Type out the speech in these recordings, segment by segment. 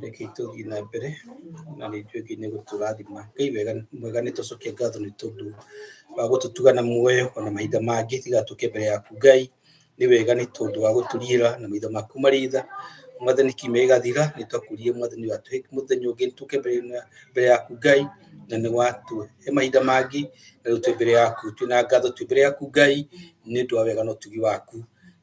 reke itũthiĩ na mbere na nĩ njũĩ nginya gũtũrathima ngai wega mwega nĩ tũcokia ngatho nĩ tondũ wa gũtũtuga na muoyo ona mahinda mangĩ tigatũke mbere yaku ngai nĩ wega nĩ tondũ wa gũtũriĩra na maitho maku marĩ tha mwathani kiumia gĩgathira nĩ twakũrie mwathani watũhe mũthenya ũngĩ tũke mbere na- mbere yaku ngai na nĩ watũhe mahinda mangĩ na rĩu twĩ mbere yaku twĩ na ngatho twĩ mbere yaku ngai nĩ ũndũ wa wega na ũtugi waku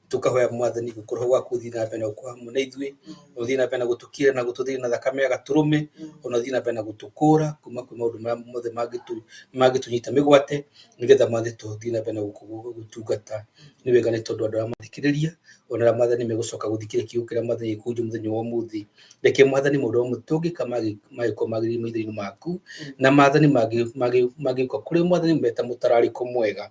tukahoya mwathani gukorwo gwaku uthii na mbere uko hamwe na ithui uthii na mbere na gutukira na gututhira na thakame ya gaturume ona uthii na mbere na gutukura kuma kwi maundu maria mothe mangitu mangitunyita migwate nigetha mwathani tuthii na mbere na guku- gutungata ni wega ni tondu andu aria mathikiriria ona aria mwathani megucoka guthikiria kiugo kiria mwathani gikunju muthenya wa umuthi reke mwathani maundu amwe tungika magikorwo magirire maitho-ini maku na mathani mangi- mangi- mangĩũka kũrĩ mwathani meta mũtararĩko mwega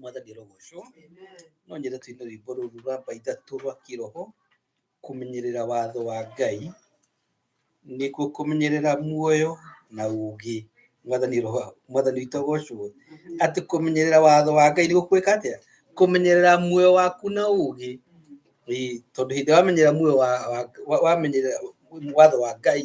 mwathani rogoco no nyende tuine rwimbo ruru rwa mbaithatu rwa kiroho kumenyerera watho wa ngai nikuo kumenyerera muoyo na ugi mwathani roho mwathani witũ agocwo atĩ kũmenyerera watho wa ngai nĩ gũkwĩka atĩa kũmenyerera muoyo waku na ũgĩ Ĩĩ, tondũ hĩndĩ wamenyerera muoyo wa- wa- wa- wamenyerera watho wa ngai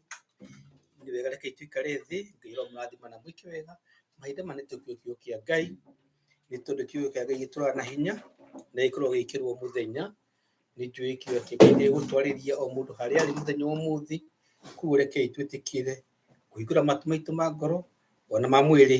nĩ wega reke itũikare thĩ ngai ũramũrathima na mwĩke wega mahinda ma nĩ tũkiuo kiuo kĩa ngai nĩ tondũ kiuo kĩa ngai gĩtũraga na hinya na gĩkorwo gĩkĩrwo mũthenya nĩ njũĩ kiuo kĩa ngai nĩ gũtwarĩria o mũndũ harĩa arĩ mũthenya wa ũmũthĩ kuo rekei twĩtĩkĩre kũhingũra matu maitũ ma ngoro ona ma mwĩrĩ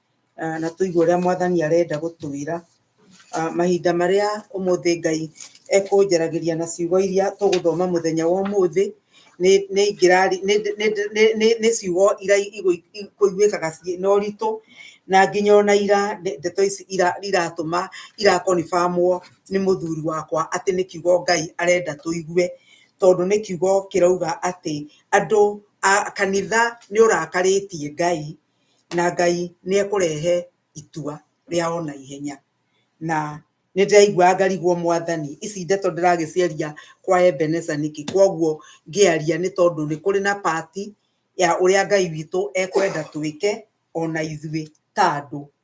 ah, na tũigue ũrĩa mwathani arenda gũtwĩra ah, mahinda marĩa ũmũthĩ ngai ekũnjaragĩria na ciugo iria tũgũthoma mũthenya wa ũmũthĩ nĩ- nĩ ingĩrari- nĩ- nĩ- nĩ- nĩ- nĩ ciugo iria igũ- ikũiguĩkaga ciĩ na ũritũ na nginya ona ira nde- ndeto ici ira- iratũma irakonibamwo nĩ mũthuri wakwa atĩ nĩ kiugo ngai arenda tũigue tondũ nĩ kiugo kĩrauga atĩ andũ a kanitha nĩ ũrakarĩtie ngai na Ngai nĩ ekũrehe itua rĩa ona ihenya. Na nĩ ndĩraiguaga ngarigwo mwathani, ici ndeto ndĩragĩciaria kwa Ebenezer nĩkĩ? Koguo ngĩaria nĩ tondũ nĩ kũrĩ na part ya ũrĩa Ngai witũ ekwenda twĩke ona ithuĩ ta andũ.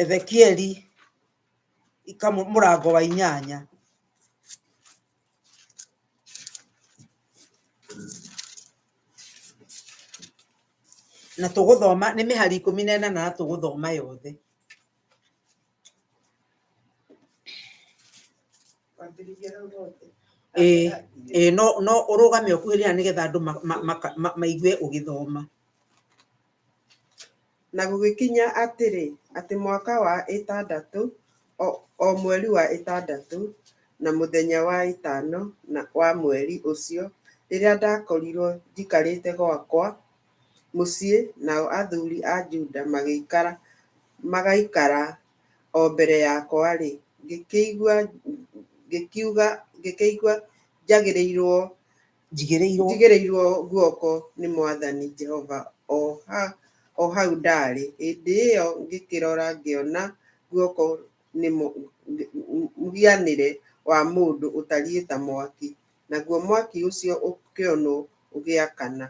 ezekieli ikamu mũrango wa inyanya na tũgũthoma nĩ mĩhari ikũmi na ĩnana na tũgũthoma yothe Kwambĩrĩria hau hothe. Ĩĩ, ĩĩ, no no ũrũgame ũkuhĩrĩra nĩgetha andũ ma- ma- maka- ma- maigue ũgĩthoma Na gũgĩkinya atĩrĩ, atĩ mwaka wa ĩtandatũ, o, o mweri wa ĩtandatũ, na mũthenya wa ĩtano na wa mweri ũcio, rĩrĩa ndakorirwo njikarĩte gwakwa, mũciĩ, nao athuri a Juda magĩikara, magaikara o mbere yakwa-rĩ, ngĩkĩigua, ngĩkiuga, ngĩkĩigua njagĩrĩirwo, njigĩrĩirwo, njigĩrĩirwo guoko nĩ mwathani Jehova o ha, o hau ndarĩ. Hĩndĩ ĩyo ngĩkĩrora ngĩona guoko nĩ mũ, mũhianĩre wa mũndũ ũtariĩ ta mwaki, naguo mwaki ũcio ũkĩonwo ũgĩakana.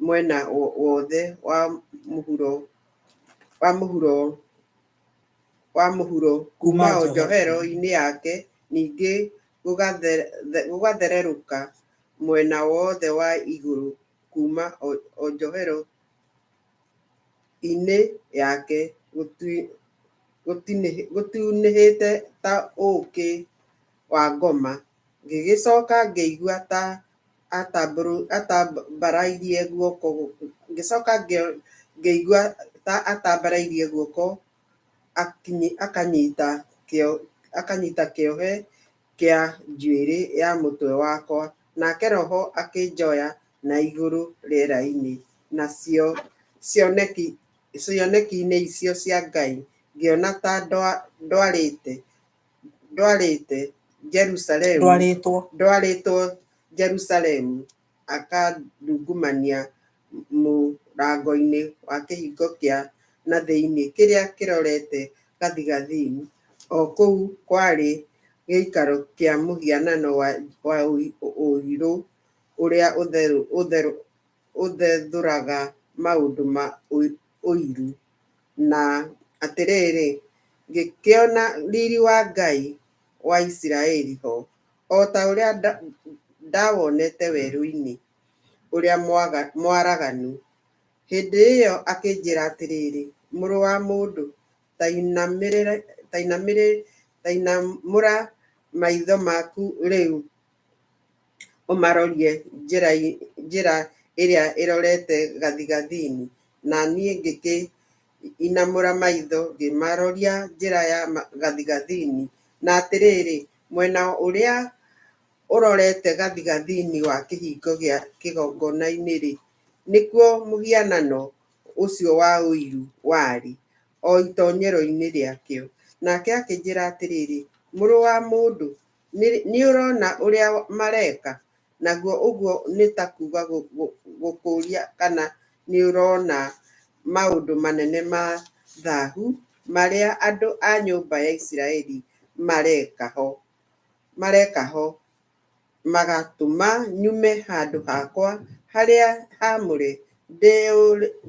mwena wothe wa mũhuro wa mũhuro wa mũhuro kuma o njohero-inĩ yake, ningĩ gũgathererũka mwena wothe wa igũrũ kuma o njohero-inĩ yake gũtunĩhĩte ta ũũkĩ wa ngoma, ngĩgĩcoka ngĩigua ta atambũrũ, atambarairie guoko, ngĩcoka ngĩigua ta atambarairie guoko akanyita kĩo, akanyita kĩohe kĩa njuĩrĩ ya mũtwe wakwa, nake roho akĩnjoya na igũrũ rĩera-inĩ, nacio cioneki, cioneki-inĩ icio cia Ngai ngĩona ta ndwarĩte. ndwarĩte Jerusalemu ndwarĩtwo ndwarĩtwo Jerusalemu akandungumania mũrango-inĩ wa kĩhingo kĩa na thĩinĩ kĩrĩa kĩrorete gathigathini o kũu kwarĩ gĩikaro kĩa mũhianano wa ũirũ ũrĩa ũtherũ ũthethũraga maũndũ ma ũiru. Na atĩrĩrĩ, ngĩkĩona riri wa Ngai wa Isiraeli ho, o ta ũrĩa ndawonete werũ-inĩ ũrĩa mwaraganu. Hĩndĩ ĩyo akĩnjĩra atĩrĩrĩ, Mũrũ wa mũndũ, ta inamũra maitho maku rĩu. ũmarorie njĩra njĩra ĩrĩa ĩrorete gathigathini, na niĩ ngĩkĩ inamũra maitho ngĩmaroria njĩra ya gathigathini, na atĩrĩrĩ, mwena ũrĩa ũrorete gathigathini wa kĩhingo gĩa kĩgongona-inĩ-rĩ, nĩkuo mũhianano ũcio wa ũiru warĩ, o itonyero-inĩ rĩakĩo. Nake akĩnjĩra atĩrĩrĩ, mũrũ wa mũndũ, Nĩ ũrona ũrĩa mareka? Naguo ũguo nĩ ta kuuga gũkũũria kana nĩ ũrona maũndũ manene ma thahu marĩa andũ a nyũmba ya Isiraeli mareka ho, mareka ho, magatũma nyume handũ hakwa harĩa haamũre,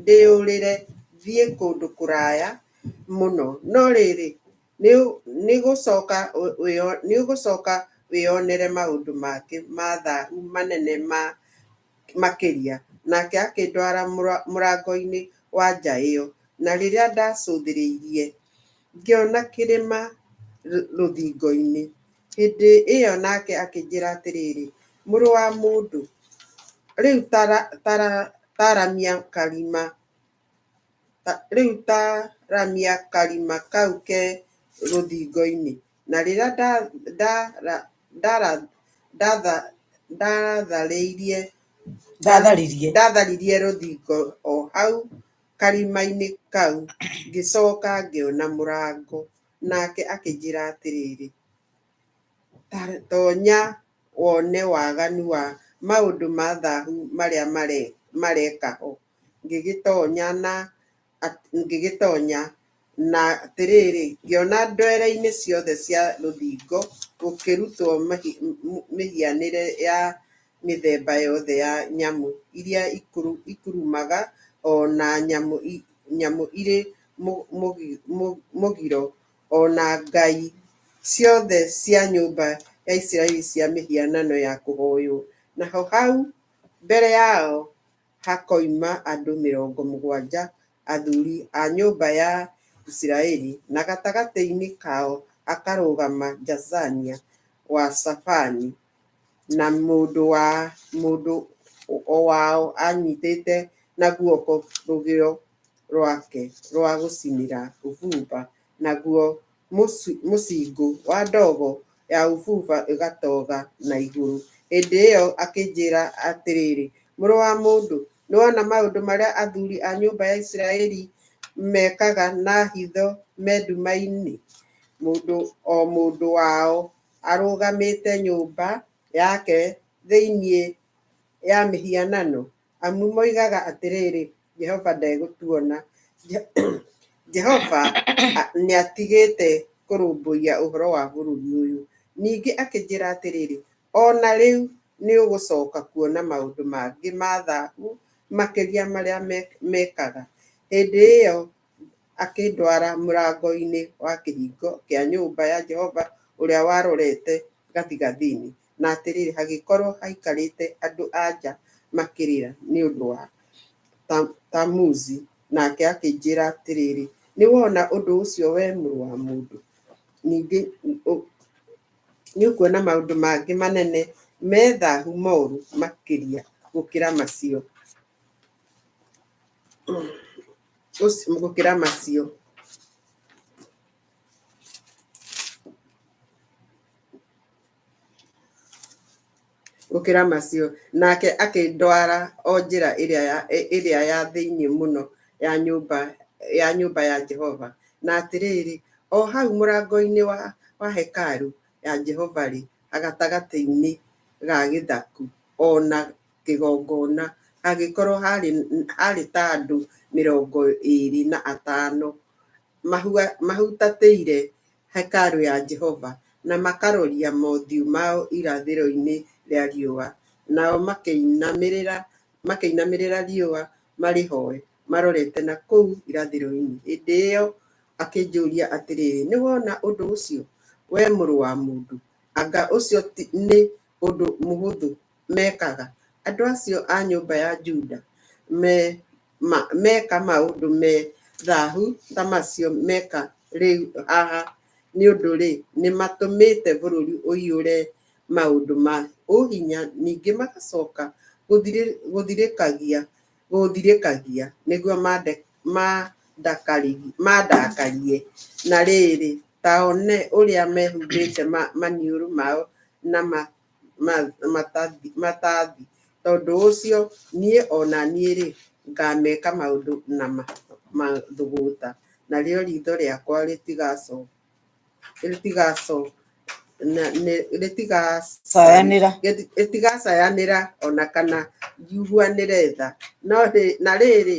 ndĩyũrĩre thiĩ kũndũ kũraya mũno. No rĩrĩ, Nĩũgũcoka wĩyonere maũndũ mangĩ ma thahu manene makĩria. Nake akĩndwara mũrango-inĩ wa nja ĩo, na rĩrĩa ndacũthĩrĩirie, ngĩona kĩrĩma rũthingo-inĩ. Hĩndĩ ĩo nake akĩnjĩra atĩrĩrĩ, Mũrũ wa mũndũ, rĩu taramia karima. Rĩu ta ramia karima kau ke rũthingo-inĩ, na rĩrĩa ndatharirie rũthingo o hau karima-inĩ kau, ngĩcoka ngĩona mũrango. Nake akĩnjĩra atĩrĩrĩ, Tonya wone waganu wa maũndũ ma thahu marĩa mareka ho. ngĩgĩtonya na ngĩgĩtonya na atĩrĩrĩ, ngĩona ndwere-inĩ ciothe cia rũthingo gũkĩrutwo mĩhianĩre ya mĩthemba yothe ya nyamũ iria ikurumaga, o na nyamũ irĩ mũgiro, o na ngai ciothe cia nyũmba ya Isiraeli cia mĩhianano ya kũhooywo. Naho hau mbere yao... hakoima andũ mĩrongo mũgwanja athuri a nyũmba ya Isiraeli, na gatagatĩ-inĩ kao akarũgama Jaazania wa Shafani, na mũndũ wa mũndũ o wao anyitĩte na guoko rũgĩo rwake rwa gũcinĩra ũbumba, naguo mũcingũ wa ndogo ya ũbumba ĩgatoga na igũrũ. Hĩndĩ ĩyo akĩnjĩĩra atĩrĩrĩ, Mũrũ wa mũndũ, nĩwona maũndũ marĩa athuuri a nyũmba ya Isiraeli mekaga na hitho me nduma-inĩ, mũndũ o mũndũ wao arũgamĩte nyũmba yake thĩinĩ ya mĩhianano? amu moigaga atĩrĩrĩ, Jehova ndegũtuona. Jehova nĩ atigĩte kũrũmbũiya ũhoro wa bũrũri ũyũ. Ningĩ akĩnjĩra atĩrĩrĩ, O na rĩu nĩ ũgũcoka kuona maũndũ mangĩ ma thahu makĩria marĩa mekaga. Hĩndĩ ĩyo akĩndwara mũrango-inĩ wa kĩhingo kĩa nyũmba ya Jehova ũrĩa warorete gathigathini. Na atĩrĩrĩ, hagĩkorwo haikarĩte andũ-a-nja makĩrĩra nĩ ũndũ wa Tamuzi, nake akĩnjĩĩra atĩrĩrĩ, Nĩwona ũndũ ũcio, wee mũrũ wa mũndũ? Ningĩ nĩũkuona maũndũ mangĩ manene me thahu moru makĩria gũkĩra macio, gũkĩra macio. gũkĩra macio, nake akĩndwara o njĩra ĩrĩa ya, ĩ- ĩrĩa ya thĩinĩ mũno ya nyũmba ya nyũmba ya Jehova. Na atĩrĩrĩ, o hau mũrango-inĩ wa, wa hekaru ya Jehova-rĩ, agatagatĩ-inĩ ga gĩthaku, o na kĩgongona, hagĩkorwo harĩ, harĩ ta andũ mĩrongo ĩrĩ na atano, mahua, mahutatĩire. hekarũ ya Jehova, na makaroria mothiũ mao irathĩro-inĩ rĩa riũa, nao makĩinamĩrĩra makĩinamĩrĩra riũa marĩhoe marorete na kũu irathĩro-inĩ. Hĩndĩ ĩyo akĩnjũũria atĩrĩ, Nĩ wona ũndũ ũcio, wee mũrũ wa mũndũ? Anga ũcio ti nĩ ũndũ mũhũthũ mekaga. Andũ acio a nyũmba ya Juda me, ma, meka maũndũ me thahu ta macio meka rĩu haha, nĩ ũndũ rĩ, nĩ matũmĩte bũrũri ũiyũre maũndũ ma ũhinya, ningĩ magacoka gũthirĩ, gũthirĩkagia, gũũthirĩkagia, nĩguo mande, mandakari, mandakarie. Na rĩrĩ, ta one ũrĩa mehumbĩte ma, maniũrũ mao na ma, matathi, tondũ ũcio niĩ o na niĩ-rĩ, ngaameka maũndũ na mathũgũũta, narĩo riitho rĩakwa rĩtigacayanĩra o na kana njiiguanĩre tha. Na rĩrĩ,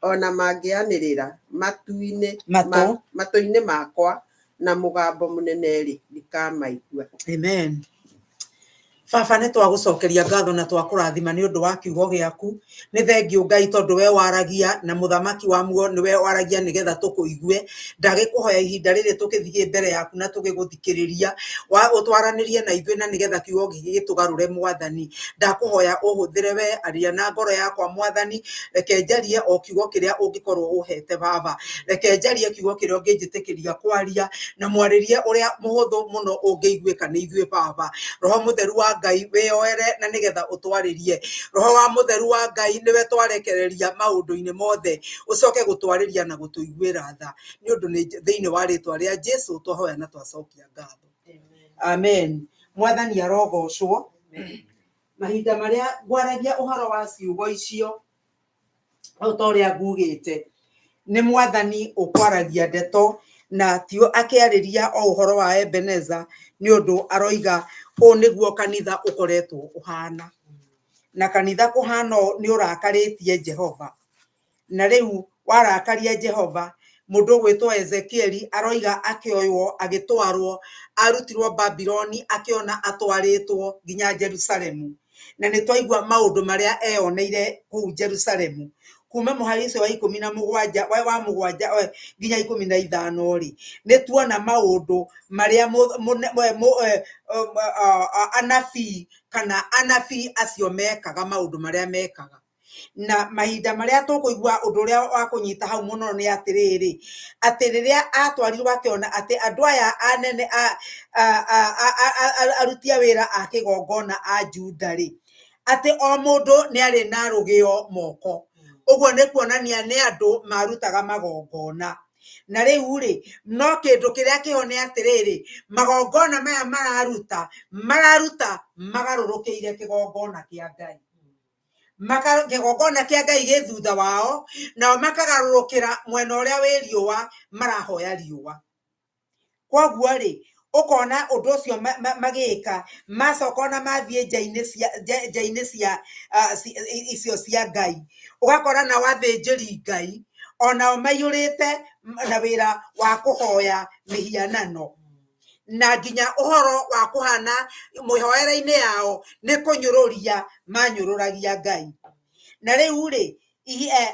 ona mangĩanĩrĩra matu-inĩ Matũ. ma- matũ-inĩ makwa na mũgambo mũnene-rĩ ndikamaigua Amen. Baba nĩ twagũcokeria ngatho na twakũrathima nĩ ũndũ wa kiugo gĩaku nĩ thengiũ ngai tondũ we waragia na mũthamaki wa muo nĩ we waragia nĩgetha tũkũigue ndagĩkũhoya ihinda rĩrĩ tũgĩthiĩ mbere yaku na tũgĩgũthikĩrĩria gũthikĩrĩria, wa ũtwaranĩrie na ithuĩ na nĩgetha kiugo gĩkĩ gĩtũgarũre Mwathani. Ndakũhoya ũhũthĩre wee, aria na ngoro yakwa Mwathani, reke njarie o kiugo kĩrĩa ũngĩkorwo ũhete Baba. Reke njarie kiugo kĩrĩa ũngĩnjĩtĩkĩria kwaria, na mwarĩrie ũrĩa mũhũthũ mũno ũngĩiguĩka nĩ ithuĩ Baba. Roho mũtheru wa Ngai wĩyoere na nĩgetha ũtwarĩrie. Roho wa mũtheru wa Ngai nĩwe twarekereria maũndũ-inĩ mothe, ũcoke gũtwarĩria na gũtũiguĩra tha. nĩ ũndũ nĩ- thĩinĩ wa rĩtwa rĩa jesu twahoya na twacokia ngatho amen mwathani arogocwo mahinda marĩa ngwaragia ũhoro wa ciugo icio o ta ũrĩa ngugĩte nĩ mwathani ũkwaragia ndeto na ti akĩarĩria o ũhoro wa ebeneza nĩ ũndũ aroiga ũũ nĩguo kanitha ũkoretwo ũhana na kanitha kũhana ũũ nĩ ũrakarĩtie jehova Na rĩu warakaria Jehova, mũndũ ũgwĩtwo Ezekieli aroiga akĩoywo agĩtwarwo, arutirwo Babiloni akĩona atwarĩtwo nginya Jerusalemu. Na nĩ twaigua maũndũ marĩa eyoneire kũu Jerusalemu. Kuma mũhari ũcio wa ikũmi na mũgwanja, wa wa mũgwanja eh, nginya ikũmi na ithano-rĩ, nĩ tuona maũndũ marĩa mũ- mũne- mũ- mũ- eh, um, ah, ah, anabii kana anabii acio mekaga maũndũ marĩa mekaga. na mahinda marĩa tũkũigua ũndũ ũrĩa wa kũnyita hau mũno nĩ atĩrĩrĩ atĩ rĩrĩa atwarirwo akĩona atĩ andũ aya anene a- a- a- a- a- a- a- aruti a wĩra a kĩgongona a juda rĩ atĩ o mũndũ nĩ arĩ na rũgĩo moko ũguo nĩ kuonania nĩ andũ marutaga magongona na rĩu rĩ no kĩndũ kĩrĩa kĩho nĩ atĩrĩrĩ magongona maya mararuta mararuta magarũrũkĩire kĩgongona kĩa ngai maka- kĩgongona kĩa ngai gĩ thutha wao nao makagarũrũkĩra mwena ũrĩa wĩ riũa marahoya riũa kwoguo-rĩ ũkona ũndũ ũcio ma- ma- magĩka macoka ona mathiĩ nja-inĩ cia nja- nja-inĩ cia ah, ci- i- icio cia ngai ũgakora nao athĩnjĩri ngai onao maiyũrĩte m- na wĩra wa kũhoya mĩhianano na nginya ũhoro wa kũhana mĩhoere-inĩ yao nĩ kũnyũrũria manyũrũragia Ngai. Na rĩu rĩ, eh,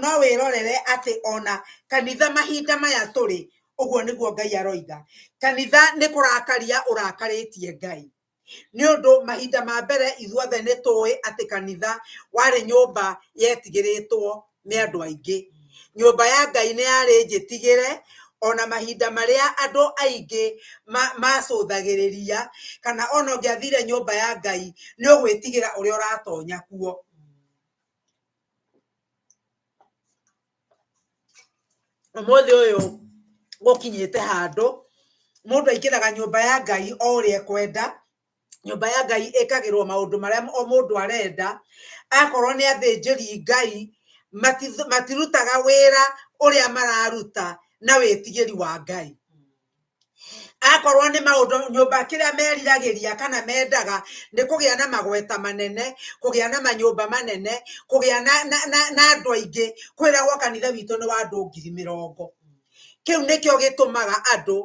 no wĩrorere atĩ ona kanitha mahinda maya tũrĩ, ũguo nĩguo Ngai aroiga. Kanitha nĩ kũrakaria ũrakarĩtie Ngai. Nĩ ũndũ mahinda ma mbere ithuothe nĩ tũĩ atĩ kanitha warĩ nyũmba yetigĩrĩtwo nĩ andũ aingĩ. Nyũmba ya Ngai nĩ yarĩ njĩtigĩre ona mahinda marĩa andũ aingĩ macũthagĩrĩria kana ona ũngĩathire nyũmba ya Ngai nĩ ũgwĩtigĩra ũrĩa ũratonya kuo. ũmũthĩ ũyũ gũkinyĩte handũ mũndũ aingĩraga nyũmba ya Ngai o ũrĩa ekwenda, nyũmba ya Ngai ĩkagĩrwo maũndũ marĩa o mũndũ arenda, akorwo nĩ athĩnjĩri Ngai matirutaga wĩra ũrĩa mararuta na wĩtigĩri wa Ngai. akorwo nĩ maũndũ nyũmba kĩrĩa meriragĩria kana mendaga nĩ kũgĩa na magweta manene, kũgĩa na manyũmba manene, kũgĩa na na na andũ aingĩ, kwĩragwo kanitha witũ nĩ wa andũ ngiri mĩrongo, kĩu nĩkĩo gĩtũmaga andũ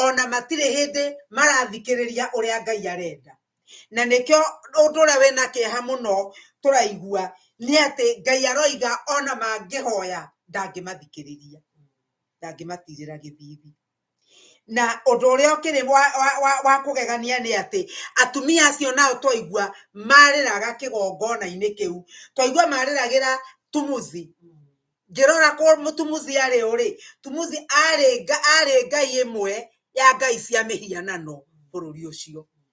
ona matirĩ hĩndĩ marathikĩrĩria ũrĩa Ngai arenda, na nĩkĩo ũndũ ũrĩa wĩna kĩeha mũno tũraigua nĩ atĩ Ngai aroiga ona mangĩhoya ndangĩmathikĩrĩria. ndangĩmatirĩra gĩthithi na ũndũ ũrĩa ũkĩrĩ wa, wa, wa, wa kũgegania nĩ atĩ atumia acio nao twaigua marĩraga kĩgongona-inĩ kĩu twaigua marĩragĩra tumuzi ngĩrora kũ mũtumuzi arĩ ũrĩ tumuzi arĩ arĩ ngai ĩmwe ya ngai cia mĩhianano bũrũri ũcio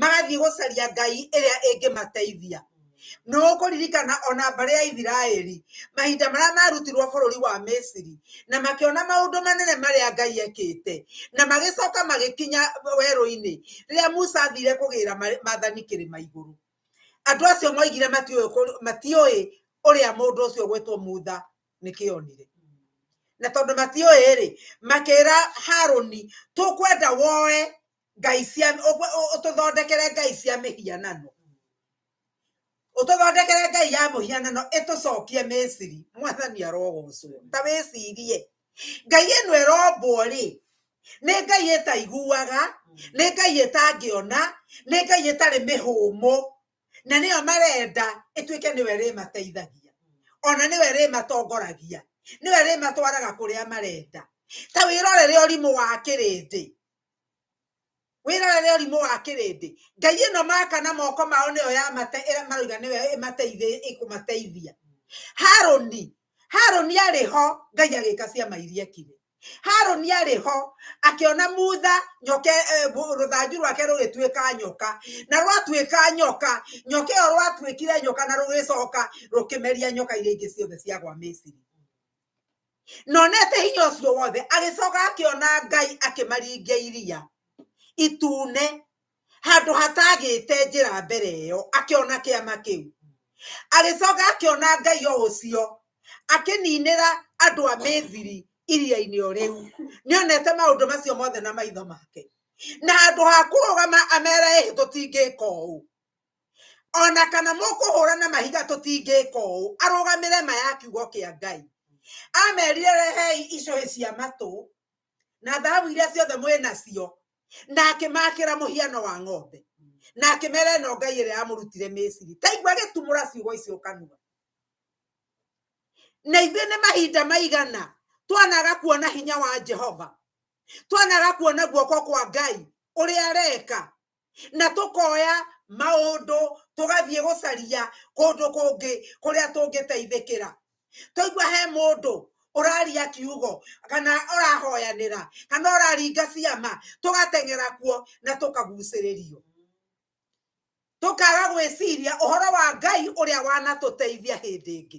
magathiĩ gũcaria ngai ĩrĩa ĩngĩmateithia nĩ ũkũririkana ona mbarĩ ya ithiraeli mahinda marĩa marutirwo bũrũri wa misiri na makĩona maũndũ manene marĩa ngai ekĩte na magĩcoka magĩkinya werũ-inĩ rĩrĩa musa athire kũgĩra mathani kĩrĩma igũrũ andũ acio moigire matiũĩ ũrĩa mũndũ ũcio gwĩtwo mutha nĩkĩonire na tondũ matiũĩ rĩ makĩra harũni tũkwenda woe ngai cia ũtũthondekere ngai cia mĩhianano ũtũthondekere ngai ya mũhianano ĩtũcokie misiri mwathani arogocwo ta wĩcirie ngai ĩno ĩrombwo rĩ nĩ ngai ĩtaiguaga nĩ ngai ĩtangĩona nĩ ngai ĩtarĩ mĩhũmũ na nĩyo marenda ĩtuĩke nĩwe rĩmateithagia ona nĩwe rĩmatongoragia nĩwe rĩmatwaraga kũrĩa marenda ta wĩrorere ũrimũ wa kĩrĩndĩ wĩrore nĩ ũrimũ wa kĩrĩndĩ ngai ĩno maka na moko mao nĩyo ya mate ĩrĩa marauga nĩyo ĩmateithĩ ĩkũmateithia haroni haroni arĩ ho ngai agĩka ciama iria kire haroni arĩ ho akĩona mutha nyoke eh, rũthanju rwake rũgĩtuĩka nyoka na rwatuĩka nyoka nyoka ĩyo rwatuĩkire nyoka na rũgĩcoka rũkĩmeria nyoka iria ingĩ ciothe ciagwa misiri nonete hinya ũcio wothe agĩcoka akĩona ngai akĩmaringia iria itune handũ hatagĩte njĩra mbere ĩyo akĩona kĩama kĩu agĩcoka akĩona ngai o ũcio akĩninĩra andũ a mĩthiri iria-inĩ o rĩu nĩ onete maũndũ macio mothe na maitho make na handũ ha kũrũgama amera ĩhĩ tũtingĩka ũũ ona kana mũkũhũra na mahiga tũtingĩka ũũ arũgamĩre ma ya kiugo kĩa ngai amerire rehei icũhĩ cia matũ na thahabu iria ciothe mwĩ nacio na akĩmakĩra mũhiano wa ng'ombe na akĩmera ĩno ngai ĩrĩa yamũrutire mĩciri ta igua gĩtumũra ciugo icio kanua na ithuĩ nĩ mahinda maigana twanaga kuona hinya wa jehova twanaga kuona guoko kwa ngai ũrĩa areka na tũkoya maũndũ tũgathiĩ gũcaria kũndũ kũngĩ kũrĩa tũngĩteithĩkĩra twaigua he mũndũ ũraria kiugo kana ũrahoyanĩra kana ũraringa ciama tũgateng'era kuo na tũkagucĩrĩrio tũkaga gwĩciria ũhoro wa ngai ũrĩa wanatũteithia hĩndĩ ĩngĩ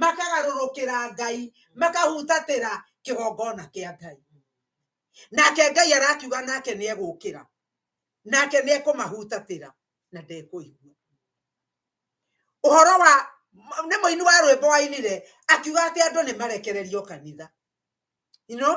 makagarũrũkĩra ngai makahutatĩra kĩgongona kĩa ngai nake ngai arakiuga nake nĩ egũkĩra nake nĩ ekũmahutatĩra na ndekũigua ũhoro wa nĩ mũini wa rwĩmbo wainire akiuga atĩ andũ nĩ marekererio kanitha you know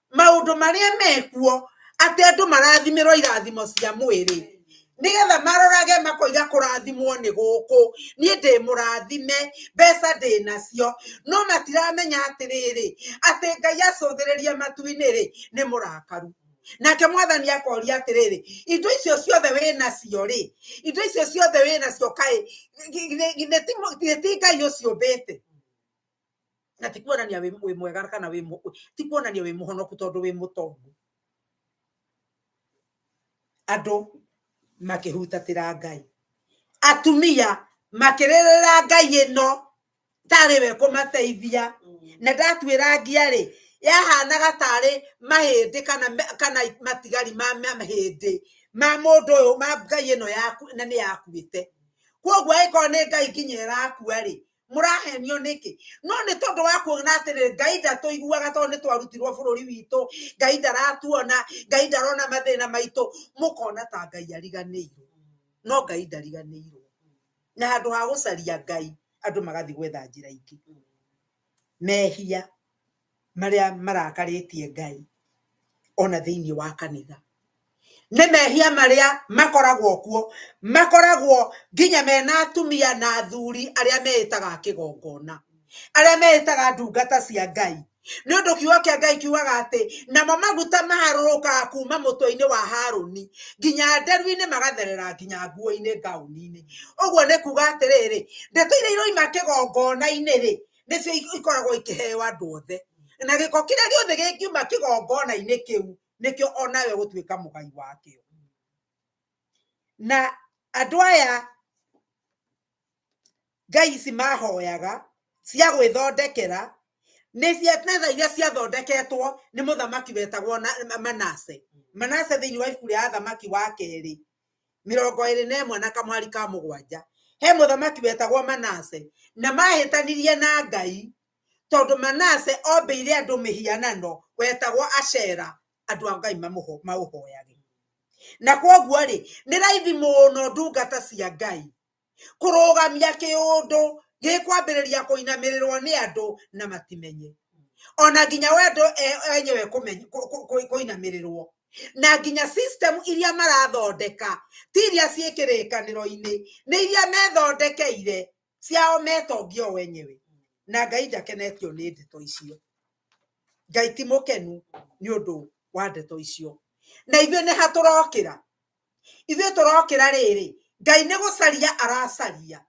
maũndũ marĩa mekuo atĩ andũ marathimĩrwo irathimo cia mwĩrĩ nĩgetha marorage makoiga kũrathimwo nĩ gũkũ niĩ ndĩ mũrathime mbeca ndĩ nacio no matiramenya atĩrĩrĩ atĩ ngai acũthĩrĩria matu-inĩ rĩ nĩ mũrakaru nake mwathani akoria atĩrĩrĩ indo icio ciothe wĩ nacio rĩ indo icio ciothe wĩ nacio kaĩ githĩ ti ngai ũciũmbĩte na ti kuonania wĩ mwega kana wĩ ti kuonania wĩ mũhonoku tondũ wĩ mũtongu andũ makĩhutatĩra ngai atumia makĩrĩrĩra ngai ĩno tarĩ we kũmateithia na ndatuĩra ngia rĩ yahanaga tarĩ mahĩndĩ kana kana matigari ma mahĩndĩ ma mũndũ ũyũ ma ngai ĩno yaku na nĩ yakuĩte kwoguo ĩkorwo nĩ ngai nginya ĩrakua rĩ mũrahenio nĩkĩ no nĩ tondũ wa kuona atĩrĩ ngai ndatũiguaga tondũ nĩ twarutirwo bũrũri witũ ngai ndaratuona ngai ndarona mathĩna maitũ mũkona ta ngai ariganĩirwo no ngai ndariganĩirwo na handũ ha gũcaria ngai andũ magathiĩ gwetha njĩra ingĩ mehia marĩa marakarĩtie Ngai ona thĩinĩ wa kanitha. Nĩ mehia marĩa makoragwo kuo, makoragwo nginya mena atumia na athuri arĩa meĩtaga a kĩgongona, arĩa meĩtaga ndungata cia Ngai. Nĩ ũndũ kiugo kĩa Ngai kiugaga atĩ, namo maguta maharũrũkaga kuuma mũtwe-inĩ wa Harũni, nginya nderu-inĩ magatherera nginya nguo-inĩ ngaũni-inĩ. Ũguo nĩ kuuga atĩrĩrĩ, ndeto iria iroima kĩgongona-inĩ-rĩ, nĩcio ikoragwo ikĩheo andũ othe na gĩko kĩrĩa gĩothe gĩkiuma kĩgongona-inĩ kĩu nĩkĩo onawe gũtuĩka mũgai wakĩo na andũ aya ngai ici mahoyaga cia gwĩthondekera nĩ cia metha iria ciathondeketwo nĩ mũthamaki wetagwo Manase Manase thĩinĩ wa ibuku rĩa athamaki wa kerĩ mĩrongo ĩrĩ na ĩmwe na kamwari ka mũgwanja he mũthamaki wetagwo manase na mahĩtanirie na ngai tondũ manase ombĩire andũ mĩhianano wetagwo acera andũ a ngai maũhoyage na kwoguo rĩ nĩ raithi mũno ndungata cia ngai kũrũgamia kĩũndũ gĩkwambĩrĩria kũinamĩrĩrwo nĩ andũ na matimenye ona nginya wendo e- enyewe kũmeny- kũ- kũ- kũ- kũinamĩrĩrwo na nginya system iria marathondeka ti iria ciĩ kĩrĩkanĩro-inĩ nĩ iria methondekeire ciao metongio wenyewe na ngai ndakenetio nĩ ndeto icio ngai ti mũkenu nĩ ũndũ wa ndeto icio na ithuĩ nĩ hatũrokĩra ithuĩ tũrokĩra rĩrĩ ngai nĩ gũcaria aracaria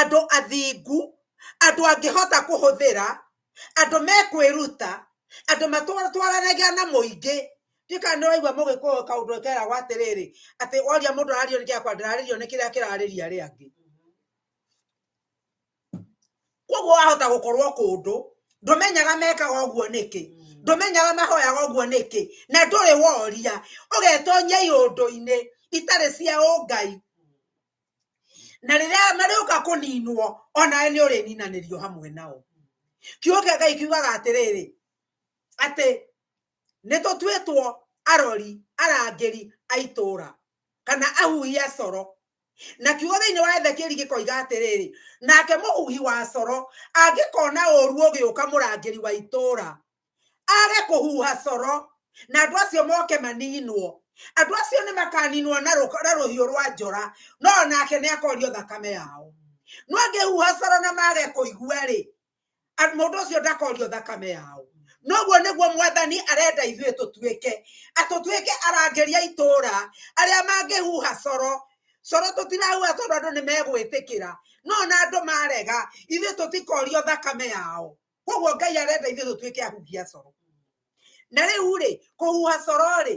andũ athingu andũ angĩhota kũhũthĩra andũ mekwĩruta andũ matwaranagia na mũingĩ ndiũĩ kana nĩwaigua mũgĩkũyũ kaũndũ keragwo atĩrĩrĩ atĩ woria mũndũ ararĩrio nĩ kĩakwa ndararĩrio nĩ kĩrĩa kĩrarĩria arĩa angĩ. koguo wahota gũkorwo kũndũ ndũmenyaga mekaga ũguo nĩkĩ mm. ndũmenyaga mahoyaga ũguo nĩkĩ na ndũrĩ woria ũgetonyia iũndũ-inĩ itarĩ cia ũngai na rĩrĩa marĩũka kũninwo onawe nĩ ũrĩninanĩrio hamwe nao kiugo kĩa ngai kiugaga atĩrĩrĩ atĩ nĩ tũtuĩtwo arori arangĩri a itũũra kana ahuhia coro na kiugo thĩinĩ wa ethekieli gĩkoiga atĩrĩrĩ nake mũhuhi wa coro angĩkona ũru ũgĩũka mũrangĩri wa itũũra age kũhuha coro na andũ acio moke maninwo andũ acio nĩ makaninwo na rũhiũ rwa njora no nake nĩ akorio thakame yao no angĩhuha coro na mage kũigua rĩ A- mũndũ ũcio ndakorio thakame yao noguo nĩguo mwathani arenda ithuĩ tũtuĩke atũtuĩke arangĩri a itũũra arĩa mangĩhuha coro coro tũtirahuha tondũ andũ nĩ megwĩtĩkĩra no na andũ marega ithuĩ tũtikorio thakame yao koguo ngai arenda ithuĩ tũtuĩke ahuhia coro na rĩu rĩ kũhuha coro rĩ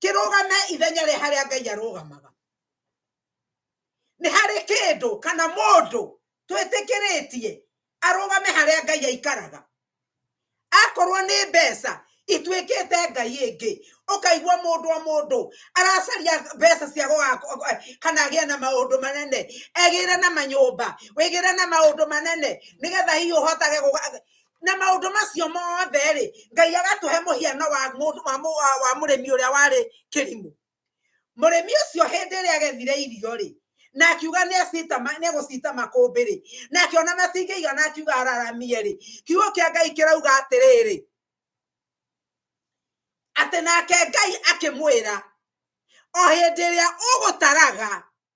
kĩrũgame ithenya rĩa harĩa ngai arũgamaga nĩ harĩ kĩndũ kana mũndũ twĩtĩkĩrĩtie arũgame harĩa ngai aikaraga akorwo nĩ mbeca ituĩkĩte ngai ĩngĩ ũkaigua mũndũ o mũndũ aracaria mbeca cia kana agĩe na maũndũ manene egĩre na manyũmba wĩgĩre na maũndũ manene nĩgetha hihi ũhotage na maundu macio mothe ri ngai agatuhe muhiano wa mundu wa mu- wa- wa murimi uria wari kirimu murimi ucio hindi iria agethire irio ri na akiuga ni acita ma- ni gucita makumbi ri na akiona matingĩigana akiuga araramie ri kiugo kia ngai kirauga atiriri ati nake ngai akimwira o hindi iria ugutaraga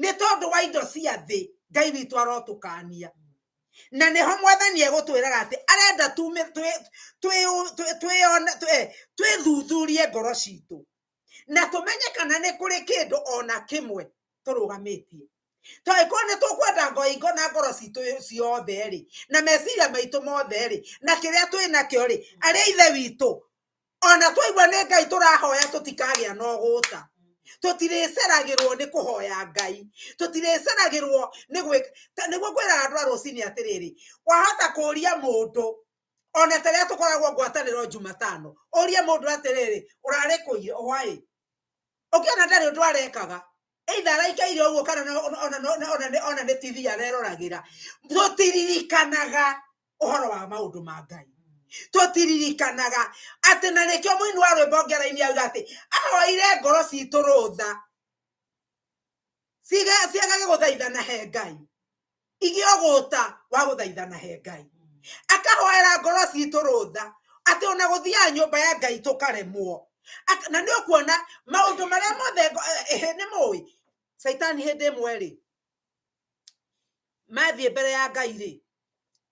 nĩ tondũ wa indo cia thĩ ngai witũ arotũkania na nĩho mwathani egũtwĩraga atĩ arenda twĩthuthurie eh, ngoro citũ na tũmenye kana nĩ kũrĩ kĩndũ ona kĩmwe tũrũgamĩtie to angĩkorwo nĩ tũkwenda ngoingo na ngoro citũ ciothe-rĩ na meciria maitũ mothe-rĩ na kĩrĩa twĩ nakĩo-rĩ arĩa ithe witũ ona twaigua nĩ ngai tũrahoya tũtikagĩa na ũgũta tũtirĩceragĩrwo nĩ kũhoya ngai tũtirĩceragĩrwo nĩ gwĩka ta- nĩguo kwĩraga andũ a rũcinĩ atĩrĩrĩ wahota kũria mũndũ ona ta rĩrĩa tũkoragwo ngwatanĩro jumatano ũrie mũndũ atĩrĩrĩ ũrarĩ kũire hwaĩ ũkĩona ndarĩ ũndũ arekaga either araikaire ũguo kana no- ona- ona- no- no- ona nĩ- ona nĩ tv areroragĩra tũtiririkanaga ũhoro wa maũndũ ma ngai tũtiririkanaga atĩ na nĩkĩo mũini wa rwĩmbo ngera-inĩ auga atĩ ahoire ngoro citũ rũtha Ciga- ciagage gũthaithana he ngai igĩogũta wa gũthaithana he ngai akahoera ngoro citũ rũtha atĩ ona gũthiaga nyũmba ya ngai tũkaremwo na nĩ ũkuona maũndũ marĩa mothe eh, eh, nĩ mũĩ caitani hĩndĩ ĩmwe rĩ mathiĩ mbere ya ngai rĩ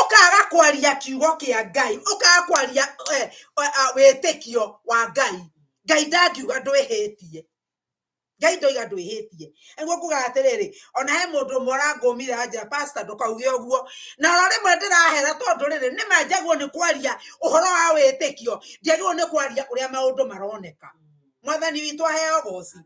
ũkaga kwaria kiugo kĩa ngai ũkaga kwaria eh, eh, eh, wĩtĩkio wa ngai ngai ndangiuga ndwĩhĩtie ngai ndoiga ndwĩhĩtie nĩguo nguga atĩrĩrĩ ona he mũndũ ũmwe ũrangũmira nja pasta ndũkauge ũguo na oro rĩmwe ndĩrahera tondũ rĩrĩ nĩ manjagwo nĩ kwaria ũhoro wa wĩtĩkio ndiagĩrwo nĩ kwaria ũrĩa maũndũ maroneka mwathani witũ aheo goci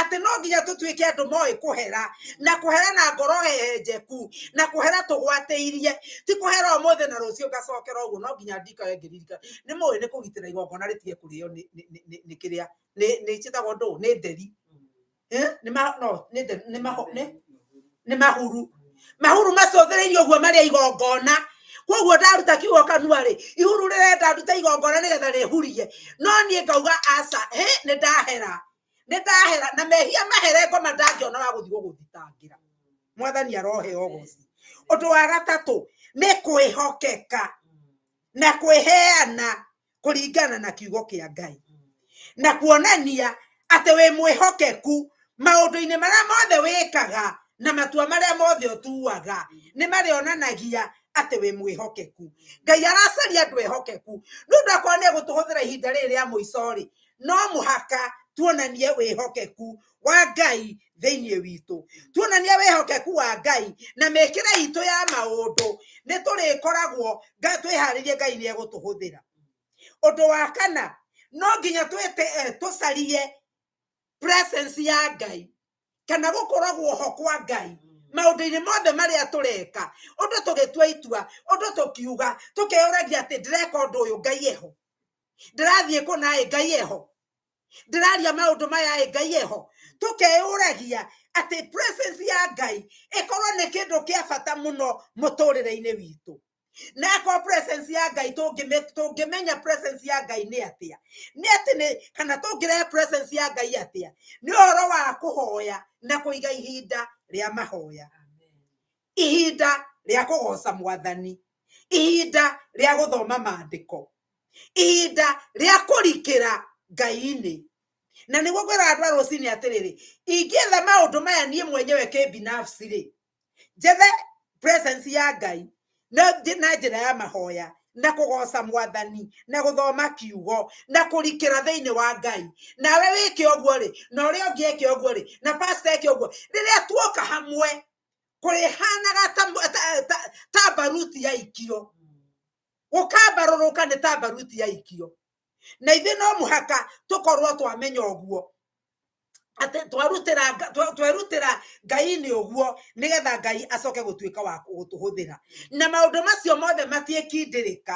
atĩ no nginya tũtuĩke andũ moĩ kũhera na kũhera na ngoro hehenjeku na kũhera tũgwatĩirie ti kũhera ũmũthĩ na rũciũ ngacokera ũguo no nginya ndikae ngĩririka nĩ mũĩ nĩ kũgitĩra igongona rĩtige kũrĩo nĩ kĩrĩa nĩ njĩtagwo ndũ nĩ nderi Eh, nĩ ma- no, nĩ the- nĩ maho- nĩ- nĩ mahuru mahuru macũthĩrĩirie ũguo marĩa igongona koguo ndaruta kiugo kanua rĩ ihuru rĩrenda ndute igongona nĩgetha rĩhurie no niĩ ngauga aca hĩ nĩ ndahera nĩ ndahera na mehia mahere ngoma ndangĩona wa gũthiĩ gũgũthitangĩra mwathani arohe ogoci ũndũ wa gatatũ nĩ kwĩhokeka na kwĩheana kũringana na kiugo kĩa ngai na kuonania atĩ wĩ mwĩhokeku maũndũ-inĩ marĩa mothe wĩkaga na matua marĩa mothe ũtuaga nĩ marĩonanagia atĩ wĩ mwĩhokeku ngai aracaria andũ ehokeku nĩ ũndũ akorwo nĩ egũtũhũthĩra ihinda rĩrĩ rĩa mũico rĩ no mũhaka tuonanie wĩhokeku wa ngai thĩinĩ witũ tuonania wĩhokeku wa ngai na mĩkĩre itũ ya maũndũ nĩ tũrĩkoragwo twĩharĩrie ngai nĩ egũtũhũthĩra ũndũ wa kana no nginya twĩte eh, tũcarie presence ya ngai kana gũkoragwo ho kwa ngai maũndũ-inĩ mothe marĩa tũreka ũndũ tũgĩtua itua ũndũ tũkiuga tũkeyũragia atĩ ndĩreka ũndũ ũyũ ngai eho ndĩrathiĩ kũ naĩ ngai eho ndĩraria maũndũ maya ĩ ngai eho tũkeyũragia atĩ presence ya ngai ĩkorwo nĩ kĩndũ kĩa bata mũno mũtũrĩre-inĩ witũ na akorwo presence ya ngai tũngĩmenya presence ya ngai nĩ atĩa nĩ atĩ nĩ kana tũngĩrehe presence ya ngai atĩa nĩ ũhoro wa kũhoya na kũiga ihinda rĩa mahoya ihinda rĩa kũgoca mwathani ihinda rĩa gũthoma maandĩko ihinda rĩa kũrikĩra ngai-inĩ na nĩguo kwĩra andũ a rũcinĩ atĩrĩrĩ ingĩetha maũndũ maya niĩ mwenyewe kĩbinafsi rĩ njethe presence ya ngai na njĩra ya mahoya na kũgoca mwathani na gũthoma kiugo na kũrikĩra thĩinĩ wa ngai nawe wĩke ũguo rĩ na ũrĩa ũngĩ eke ũguo rĩ na pasta eke ũguo rĩrĩa tuoka hamwe kũrĩhanaga ta mũ- ta- ta- ta mbaruti ya ikio gũkambarũrũka nĩ ta mbaruti ya ikio na ithuĩ no mũhaka tũkorwo twamenya ũguo atĩ twarutĩra Nga- twa- twerutĩra ngai-inĩ ũguo nĩgetha ngai acoke gũtuĩka wa gũtũhũthĩra na maũndũ macio mothe matiĩkindĩrĩka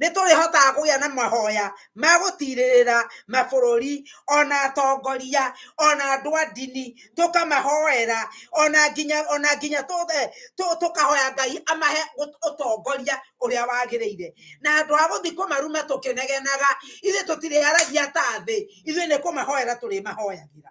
nĩ tũrĩhotaga kũgĩa na mahoya ma gũtirĩrĩra mabũrũri ona atongoria ona andũ a ndini tũkamahoera ona nginya ona nginya eh, tũkahoya ngai amahe ũtongoria ũrĩa wagĩrĩire na andũ a gũthiĩ kũmaruma tũkĩnegenaga ithuĩ tũtirĩaragia ta thĩ ithuĩ nĩ kũmahoera tũrĩmahoyagĩra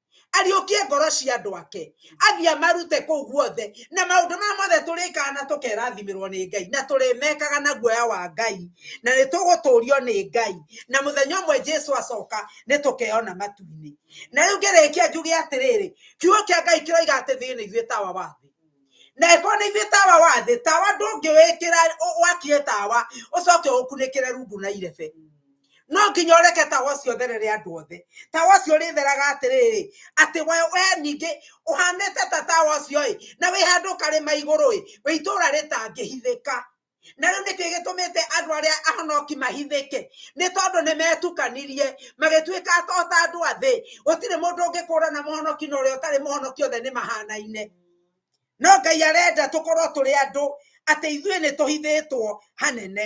ariũkie ngoro cia andũ ake athiĩ amarute kũu guothe na maũndũ maya mothe tũrĩkaga na tũkerathimĩrwo nĩ ngai na tũrĩmekaga na guoya wa ngai na nĩ tũgũtũrio nĩ ngai na mũthenya ũmwe jesu acoka nĩ tũkeona matu-inĩ na rĩu ngĩrĩkia njuge atĩrĩrĩ kiugo kĩa ngai kĩroiga atĩ thĩ nĩ ithuĩ tawa wa thĩ na ĩkorwo nĩ ithuĩ tawa wa thĩ tawa ndũngĩwĩkĩra wakie tawa ũcoke ũkunĩkĩre rungu na irebe no nginya ũreke tawa ũcio ũtherere andũ othe tawa ũcio ũrĩtheraga atĩrĩrĩ atĩ we we ningĩ ũhanĩte ta tawa ũcio-ĩ na wĩ handũ karĩma igũrũ-ĩ wĩ itũũra rĩtangĩhithĩka na rĩu nĩkĩ gĩtũmĩte andũ arĩa ahonoki mahithĩke nĩ tondũ nĩ metukanirie magĩtuĩka ota andũ a thĩ gũtirĩ mũndũ ũngĩkũrana mũhonoki na ũrĩa ũtarĩ mũhonoki othe nĩ mahanaine no ngai arenda tũkorwo tũrĩ andũ atĩ ithuĩ nĩ tũhithĩtwo hanene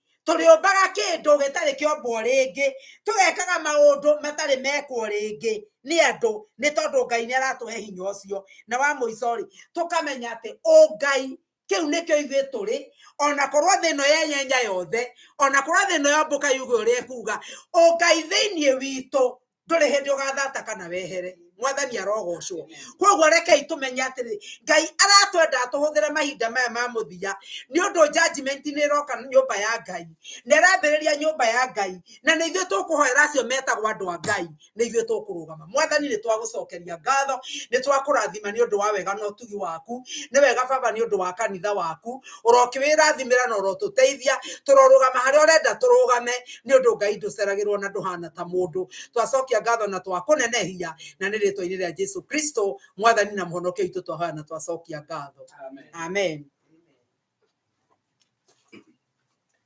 tũrĩũmbaga kĩndũ gĩtarĩ kĩombwo rĩngĩ tũgekaga maũndũ matarĩ mekwo rĩngĩ nĩ andũ nĩ tondũ ngai nĩ aratũhe hinya ũcio na wa mũico rĩ tũkamenya atĩ ũngai kĩu nĩkĩo ithuĩ tũrĩ ona korwo thĩ ĩno yenyenya yothe ona korwo thĩ ĩno yombũka yuge ũrĩa ĩkuga ũngai thĩinĩ witũ ndũrĩ hĩndĩ ũgathata kana wehere mwathani arogocwo koguo rekei tũmenye atĩrĩ ngai aratwenda tũhũthĩre mahinda maya ma mũthia nĩ ũndũ judgment nĩ ĩroka nyũmba ya ngai na ĩrambĩrĩria nyũmba ya ngai na nĩ ithuĩ tũkũhoera acio metagwo andũ a ngai nĩ ithuĩ tũkũrũgama mwathani nĩ twagũcokeria ngatho nĩ twakũrathima nĩ ũndũ wa wega na ũtugi waku nĩ wega baba nĩ ũndũ wa kanitha waku ũrokĩwĩrathimĩra na ũrotũteithia tũrorũgama harĩa ũrenda tũrũgame nĩ ũndũ ngai ndũceragĩrwo na ndũhana ta mũndũ twacokia ngatho na twakũnenehia na nĩ rĩtwa-inĩ rĩa jesu kristo mwathani na mũhonokia witũ twahoya na twacokia ngatho amen, amen.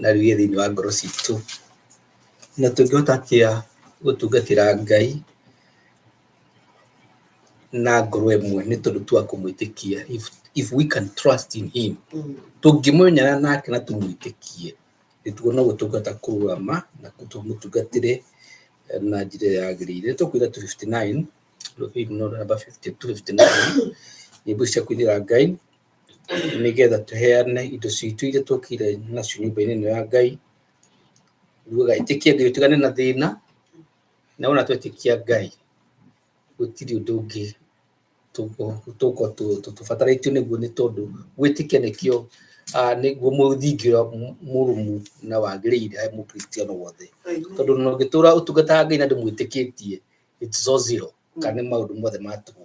na ruge thĩinĩ wa ngoro citũ na tũngĩhota atĩa gũtungatĩra ngai na ngoro ĩmwe nĩ tondũ twa kũmwĩtĩkia if, if we can trust in him tũngĩmwenyana nake na tũmwĩtĩkie nĩtuo no gũtungata kũrũgama na tũmũtungatĩre eh, na njĩra ĩrĩa yagĩrĩire tũkwĩra 59 rũbĩi no namba 52 59 nyĩmbo cia kũinĩra ngai nĩ getha tũheane indo citũ iria twokire nacio nyũmba-inĩ ĩno ya ngai ruga ĩtĩkia ngai ũtigane na thĩna na wona twetĩkia ngai gũtirĩ ũndũ ũngĩ tũko tũbatarĩtio nĩguo nĩ tondũ gwĩtĩkia nĩkĩo ah, nĩguo mũthingi ũrĩa mũ- mũrũmu na wagĩrĩire harĩ mũkristiano wothe tondũ no ũngĩtũra ũtungataga ngai na ndũmwĩtĩkĩtie it's all zero kana nĩ maũndũ mothe ma tũhũ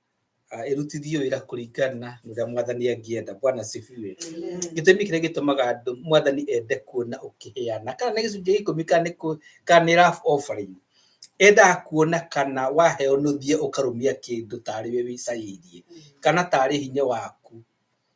ah, ĩrutithio wĩra kũringana na ũrĩa mwathani angĩenda bwana sifiwe gĩtũmi kĩrĩa gĩtũmaga andũ mwathani ende kuona ũkĩheana kana nĩ gĩcunjĩ gĩa ikũmi kana nĩ kũ- kana nĩ rough offering endaga kuona kana waheo nũthie ũkarũmia kĩndũ tarĩ we wĩcairie kana tarĩ hinya waku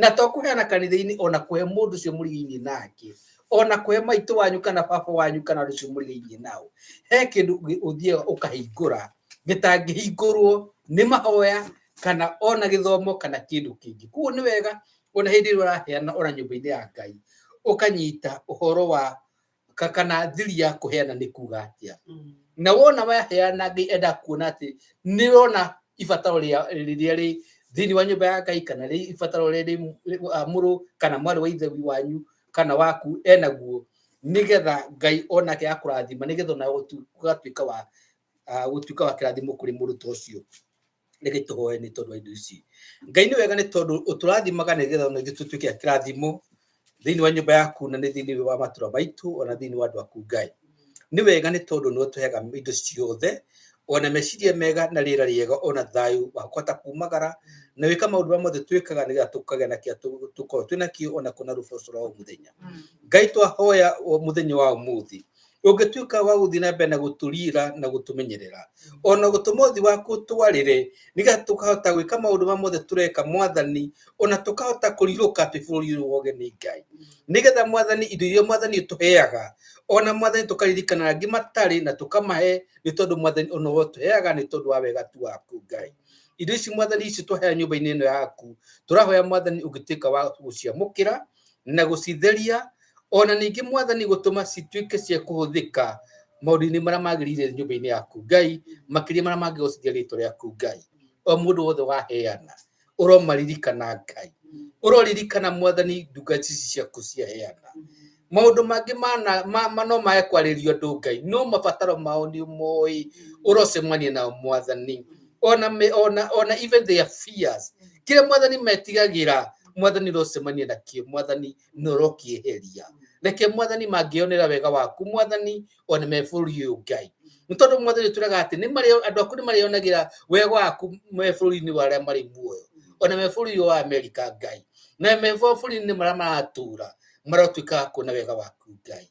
na to kũheana kanitha-inĩ ona kũhe mũndũ ũcio mũrĩ thĩinĩ nake ona kũhe maitũ wanyu kana baba wanyu kana rũciũ mũrĩ thĩinĩ nao he kĩndũ gĩ- ũthiaga ũkahingũra gĩtangĩhingũrwo nĩ mahoya kana ona gĩthomo kana kĩndũ kĩngĩ koguo nĩ wega ona hĩndĩ ĩrĩa ũraheana ona nyũmba-inĩ ya ngai ũkanyita ũhoro wa ka- kana thiri ya kũheana nĩ kuga atĩa Mm. na wona waheana ngai enda kuona atĩ nĩ rona ibataro rĩa- rĩrĩa rĩ thĩinĩ wa nyũmba ya ngai kana rĩ ibataro rĩrĩa rĩ rĩ- ah, mũrũ kana mwarĩ wa ithe wanyu kana waku enaguo nĩgetha ngai onake akũrathima nĩgetha ona ũtu- ũgatuĩka wa ah, gũtuĩka wa kĩrathimo kũrĩ mũndũ ta ũcio reke tũhoe nĩ tondũ wa indo ici ngai nĩ wega nĩ tondũ ũtũrathimaga nĩ getha ona ithuĩ tũtuĩke a kĩrathimo thĩinĩ wa nyũmba yaku na nĩ thĩinĩ wa matũra maitũ ona thĩinĩ wa andũ aku ngai nĩ wega nĩ tondũ nĩ ũtũheaga indo ciothe ona meciria mega na rĩera rĩega ona thayũ wa kũhota kumagara na wĩka maũndũ marĩa mothe twĩkaga nĩ getha tũkagĩa na kĩrĩa tũ- tũkoragwo twĩnakio ona kũna rũboco rwa o mũthenya ngai twahoya o mũthenya wa ũmũthĩ ũngĩtuĩka wa gũthiĩ na mbere na gũtũrira na gũtũmenyerera ona gũtũma ũthi waku twarĩre nĩgetha tũkahota gwĩka maũndũ ma mothe tũreka mwathani ona tũkahota kũrirũka twĩ bũrũri ũyũ woge nĩ ngai nĩgetha mwathani indo iria mwathani ũtũheaga ona mwathani tũkaririkana angĩ matarĩ na tũkamahe nĩ tondũ mwathani ona ũtũheaga nĩ tondũ wa wega tu waku ngai indo ici mwathani ici tũhea nyũmba-inĩ ĩno yaku tũrahoya mwathani ũngĩtuĩka wa gũciamũkĩra na gũcitheria o na ningĩ mwathani gũtũma cituĩke cia kũhũthĩka maũndũ-inĩ marĩa magĩrĩire nyũmba-inĩ yaku ngai makĩria marĩa mangĩgocithia rĩtwa rĩaku ngai o mũndũ wothe waheana ũromaririkana ngai ũroririkana mwathani nduka ici ciaku ciaheana maũndũ mangĩ no mae kwarĩrio andũ ngai no mabataro mao nĩ moĩ ũrocemania nao mwathani ona, ona, ona even their fears kĩrĩa mwathani metigagĩra mwathani rocemania nakio mwathani norokieheria reke mwathani mangĩonera wega waku mwathani ona me bũrũri ũyũ ngai nĩ tondũ mwathani tũraga atĩ nĩ marĩ andũ aku nĩ marĩonagĩra wega waku me bũrũri-inĩ wa arĩa marĩ muoyo ona me bũrũri wa amerika ngai na me bũrũri-inĩ marĩa maratũra marotuĩka a kuona wega waku ngai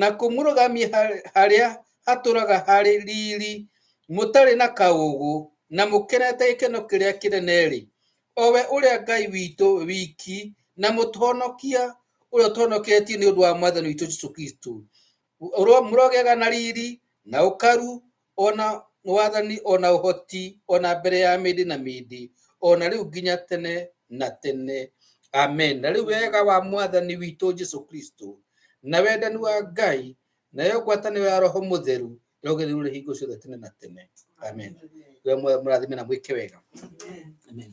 na kũmũrũgamia har- harĩa hatũraga harĩ riri mũtarĩ na kaũgũ na mũkenete gĩkeno kĩrĩa kĩnene-rĩ o we ũrĩa ngai witũ wiki na mũtũhonokia ũrĩa ũtũhonoketie nĩ ũndũ wa mwathani witũ jesu kristo Ũro- mũrogĩaga na riri na ũkaru ona wathani ona ũhoti ona mbere ya mĩndĩ na mĩndĩ ona rĩu nginya tene na tene amen na rĩu wega wa mwathani witũ jesu kristo na wendani wa ngai nayo ngwatanĩro ya roho mũtheru yogĩrĩrũre hingo ciothe tene na tene amen we mũrathime na mwĩke wega amen